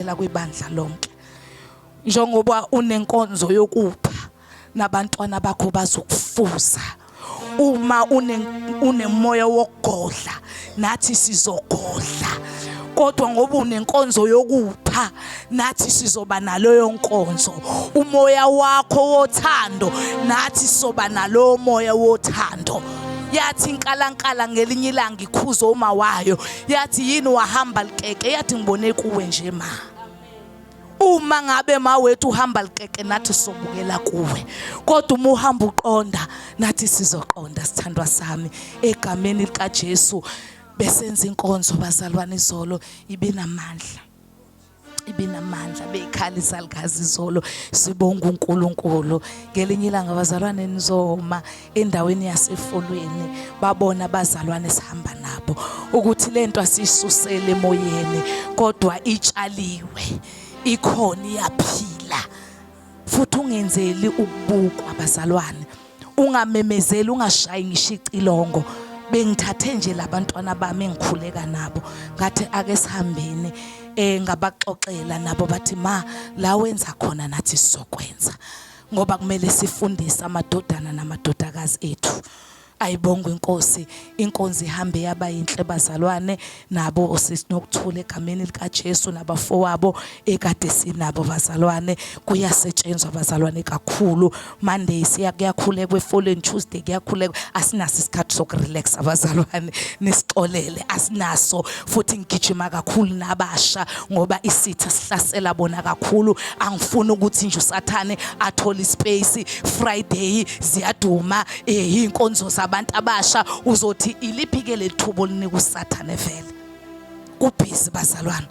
uvela kwibandla lonke njengoba unenkonzo yokupha nabantwana bakho bazokufuza uma unemoya wokugodla nathi sizogodla kodwa ngoba unenkonzo yokupha nathi sizoba naloyo nkonzo umoya wakho wothando nathi soba nalowo moya wothando yathi inkalankala ngelinye ilanga ikhuza uma wayo yathi yini wahamba likeke yathi ngibone kuwe nje ma uma ngabe ma wethu uhamba likeke nathi sobukela kuwe kodwa uma uhamba uqonda nathi sizoqonda sithandwa sami egameni likaJesu besenza inkonzo bazalwane izolo ibinamandla ibinamandla beyikhala izalukazi izolo sibonga uNkulunkulu ngelinye ilanga abazalwane nizoma endaweni yasefolweni babona abazalwane sihamba nabo ukuthi lento asisusele emoyeni kodwa itshaliwe ikhona iyaphila futhi ungenzeli ukubukwa abazalwane ungamemezeli ungashayi ngisho icilongo bengithathe nje labantwana bami engikhuleka nabo ngathi ake sihambeni eh ngabaxoxela nabo bathi ma la wenza khona nathi sizokwenza ngoba kumele sifundise amadodana namadodakazi ethu Ayibongwe inkosi inkonzi ihambe yaba yinhle bazalwane nabo osisi nokuthula egameni likaJesu nabafowabo ekade sinabo bazalwane kuyasetshenzwa bazalwane kakhulu Monday siya kuyakhulekwa efoleni Tuesday kuyakhulekwa asinaso isikhathi sokurelax abazalwane nisixolele asinaso futhi ngigijima kakhulu nabasha ngoba isitha sihlasela bona kakhulu angifuni ukuthi nje usathane athole ispace Friday ziyaduma eh inkonzo zabantu abasha uzothi iliphi ke lethubo linika usathane vele kubhizi bazalwana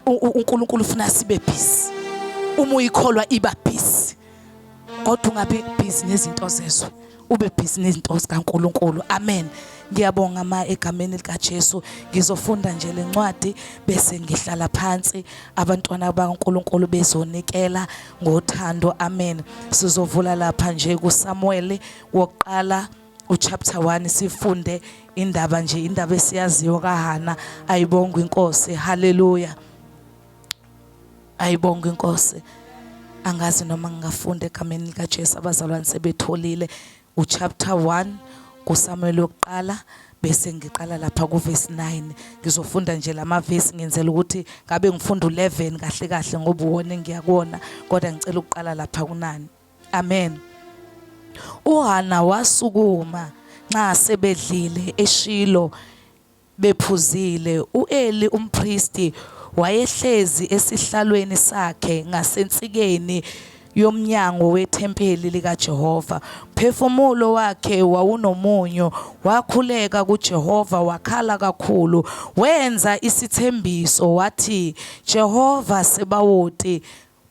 uNkulunkulu ufuna sibe busy uma uyikholwa iba busy kodwa ungabe busy nezinto zezwe ube busy nezinto zikaNkuluNkulu amen ngiyabonga ma egameni likaJesu ngizofunda nje lencwadi bese ngihlala phansi abantwana bakaNkuluNkulu bezonikela ngothando amen sizovula lapha nje kuSamuel wokuqala uchapter 1 sifunde indaba nje indaba esiyaziyo kaHana ayibongwe inkosi haleluya ayibongwe inkosi angazi noma ngingafunda egameni likaJesu abazalwane sebetholile uChapter 1 kuSamuel wokuqala bese ngiqala lapha kuverse 9 ngizofunda nje lama verse ngenzela ukuthi ngabe ngifunda u11 kahle kahle ngoba uwona engiyakona kodwa ngicela ukuqala lapha kunani amen uHana wasukuma nxa sebedlile eShilo Bephuzile, u-Eli umpristi wayehlezi esihlalweni sakhe ngasensikeni yomnyango wethempeli likaJehova. Umphefumulo wakhe wawunomunyu, wakhuleka kuJehova wakhala kakhulu. Wenza isithembiso wathi, Jehova Sebawoti,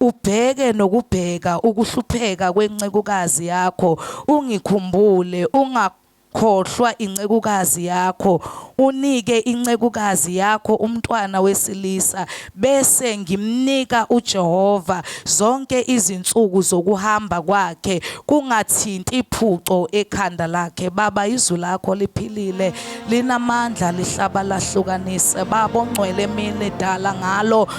ubheke nokubheka ukuhlupheka kwencekukazi yakho, ungikhumbule, unga Khohlwa incekukazi yakho, unike incekukazi yakho umntwana wesilisa, bese ngimnika uJehova zonke izinsuku zokuhamba kwakhe, kungathinti phuco ekhanda lakhe. Baba, izwi lakho liphilile, linamandla, lihlaba lahlukanise. Baba ongcwele emini dala ngalo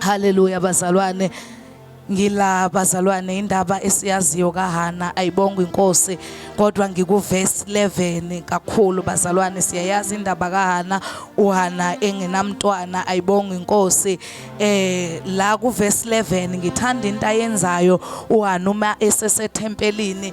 Haleluya bazalwane ngila bazalwane indaba esiyaziyo kahana ayibonga inkosi kodwa ngikuverse 11 kakhulu bazalwane siyayazi indaba kahana uhana engenamntwana ayibonga inkosi eh la kuverse 11 ngithanda into ayenzayo uhana uma esesethempelini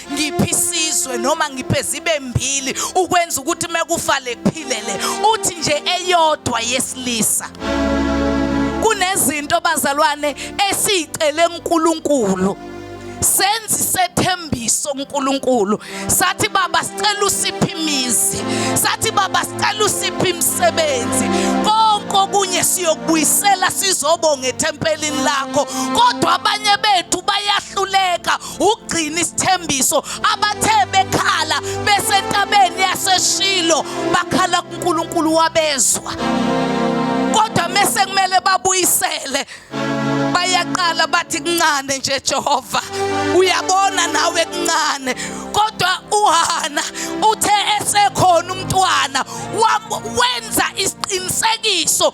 ngiphi isizwe noma ngiphe zibe mbili ukwenza ukuthi mekufa lephilele uthi nje eyodwa yesilisa kunezinto bazalwane esicele uNkulunkulu senzi sethembiso uNkulunkulu sathi baba sicela usiphi imizi sathi baba sicela usiphi imisebenzi konke okunye siyokubuyisela sizobonga ethempelini lakho kodwa abanye bethu bayahluleka ukugcina isithembiso abathe bekhala besentabeni yaseshilo bakhala kuNkulunkulu wabezwa kodwa mese kumele babuyisele bayaqala bathi kuncane nje Jehova uyabona nawe kuncane kodwa uHana uthe esekhona umntwana wenza isiqinisekiso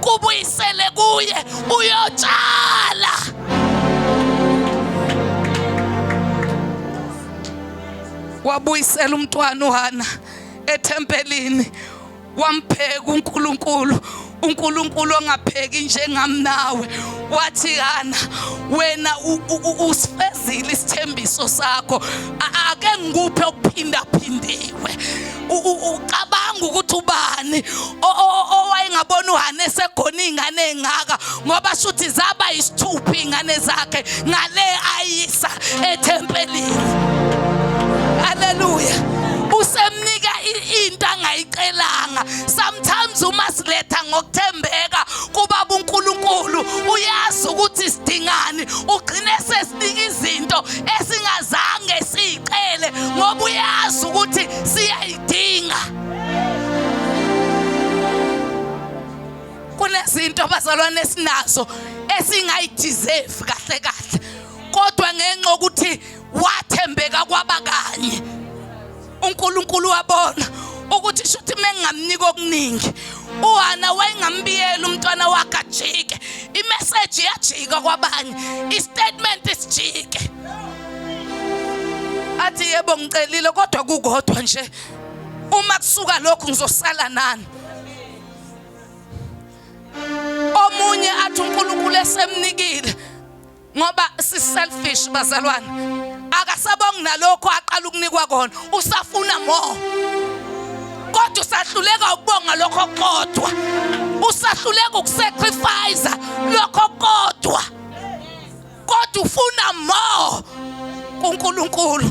kubuyisele kuye uyotshala wabuyisela umntwana uhana ethempelini wampheka uNkulunkulu uNkulunkulu ongapheki njengami nawe wathi kana wena usifezile isithembiso sakho ake ngikuphe okuphindaphindiwe ucabanga ukuthi ubani owayengabona uhane segona iy'ngane ey'ngaka ngoba shuthi zaba yisithupha iy'ngane zakhe ngale ayisa ethempelini haleluya usemnika into angayicelanga sometimes uma siletha ngokuthembeka kubaba uNkulunkulu uyazi ukuthi sidingani ugcine sesinika izinto esingazange siyicele ngoba uyazi ukuthi siyayidinga kunezinto abazalwane esinazo esingayideserve kahle kahle kodwa ngenxa ukuthi wathembeka kwabakanye uNkulunkulu wabona ukuthi shuthi mengingamnika okuningi uHana wayengambiyela umntwana wakhe ajike imessage yajika kwabanye istatement sijike athi yebo ngicelile kodwa kukodwa nje uma kusuka lokhu ngizosala nani omunye athi uNkulunkulu esemnikile ngoba si selfish bazalwane akasabongi nalokho aqala ukunikwa kona usafuna more kodwa usahluleka ukubonga lokho kodwa usahluleka ukusacrifice lokho kodwa kodwa ufuna more kuNkulunkulu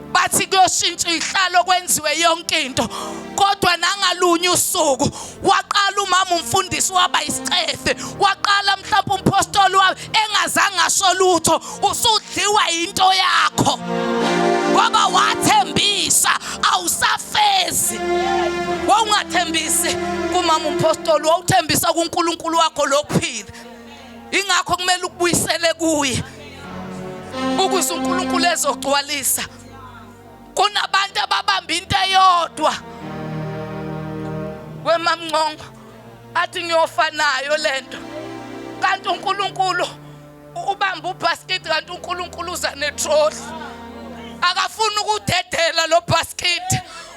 bathi kuyoshintsha ihlalo kwenziwe yonke into kodwa nangalunye usuku waqala umama umfundisi waba isicefe waqala mhlawumbe umpostoli wabe engazange asho lutho usudliwa yinto yakho ngoba wathembisa awusafezi wawungathembisi kumama umpostoli wawuthembisa kuNkulunkulu wakho lokuphila ingakho kumele ukubuyisele kuye ukuze uNkulunkulu ezogcwalisa kunabantu ababamba into eyodwa wemamncongo athi ngiyofanayo lento kanti uNkulunkulu ubamba ubasket kanti uNkulunkulu uza netrolley akafuni ukudedela lo basket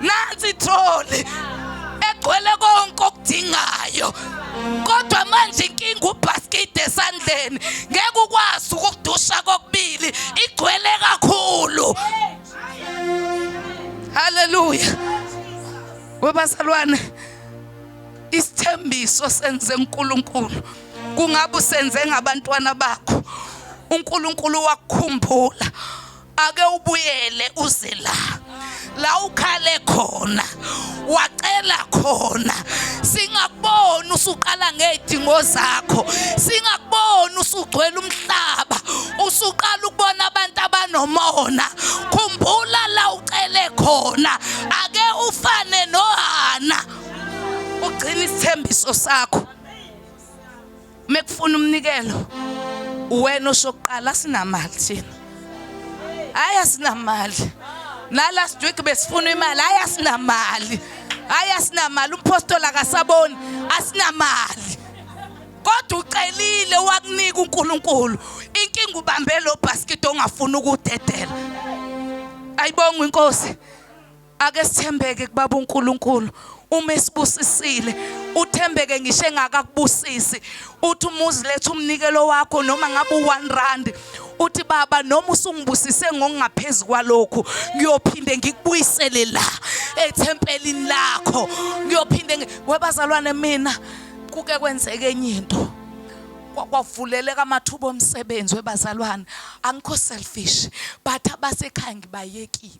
nansi itroli egcwele konke okudingayo kodwa manje inkinga ubhaskidi esandleni ngeke ukwazi ukudusha kokubili igcwele kakhulu haleluya webazalwane isithembiso senze uNkulunkulu kungabe usenze ngabantwana bakho uNkulunkulu wakukhumbula ake ubuyele uze la la ukhale khona wacela khona singakubona usuqala ngezidingo zakho singakubona usugcwele umhlaba usuqala ukubona abantu abanomona khumbula la ucele khona ake ufane nohana ugcina isithembiso sakho uma kufuna umnikelo uwena osokuqala sinamali thina hayi asinamali la last week besifuna imali hayi asinamali hayi asinamali umphostoli akasaboni asinamali kodwa ucelile wakunika uNkulunkulu inkinga ubambe lo basket ongafuni ukudedela ayibonga inkosi Ake sithembeke kubaba uNkulunkulu uma esibusisile uthembeke ngisho engakakubusisi uthi umuzi lethu umnikelo wakho noma ngabe u1 rand uthi baba noma usungibusise ngokungaphezulu kwalokhu ngiyophinde ngikubuyisele la ethempelini lakho ngiyophinde webazalwane mina kuke kwenzeke enye into kwavuleleka amathuba omsebenzi webazalwane angikho selfish but abasekhaya ngibayekile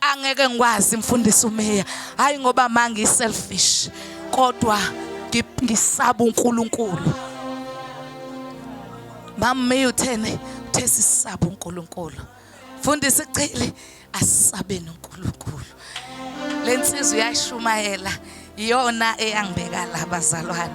angeke ngikwazi mfundisi umeya hayi ngoba mangi selfish kodwa ngisaba uNkulunkulu mamme uthene uthe sisaba uNkulunkulu mfundisi chili asisabeni uNkulunkulu lensizwe yashumayela iyona eyangibeka la bazalwane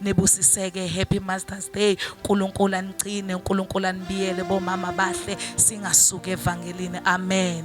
nibusiseke happy masters day unkulunkulu anicine unkulunkulu anibiyele bomama bahle singasuke evangelini amen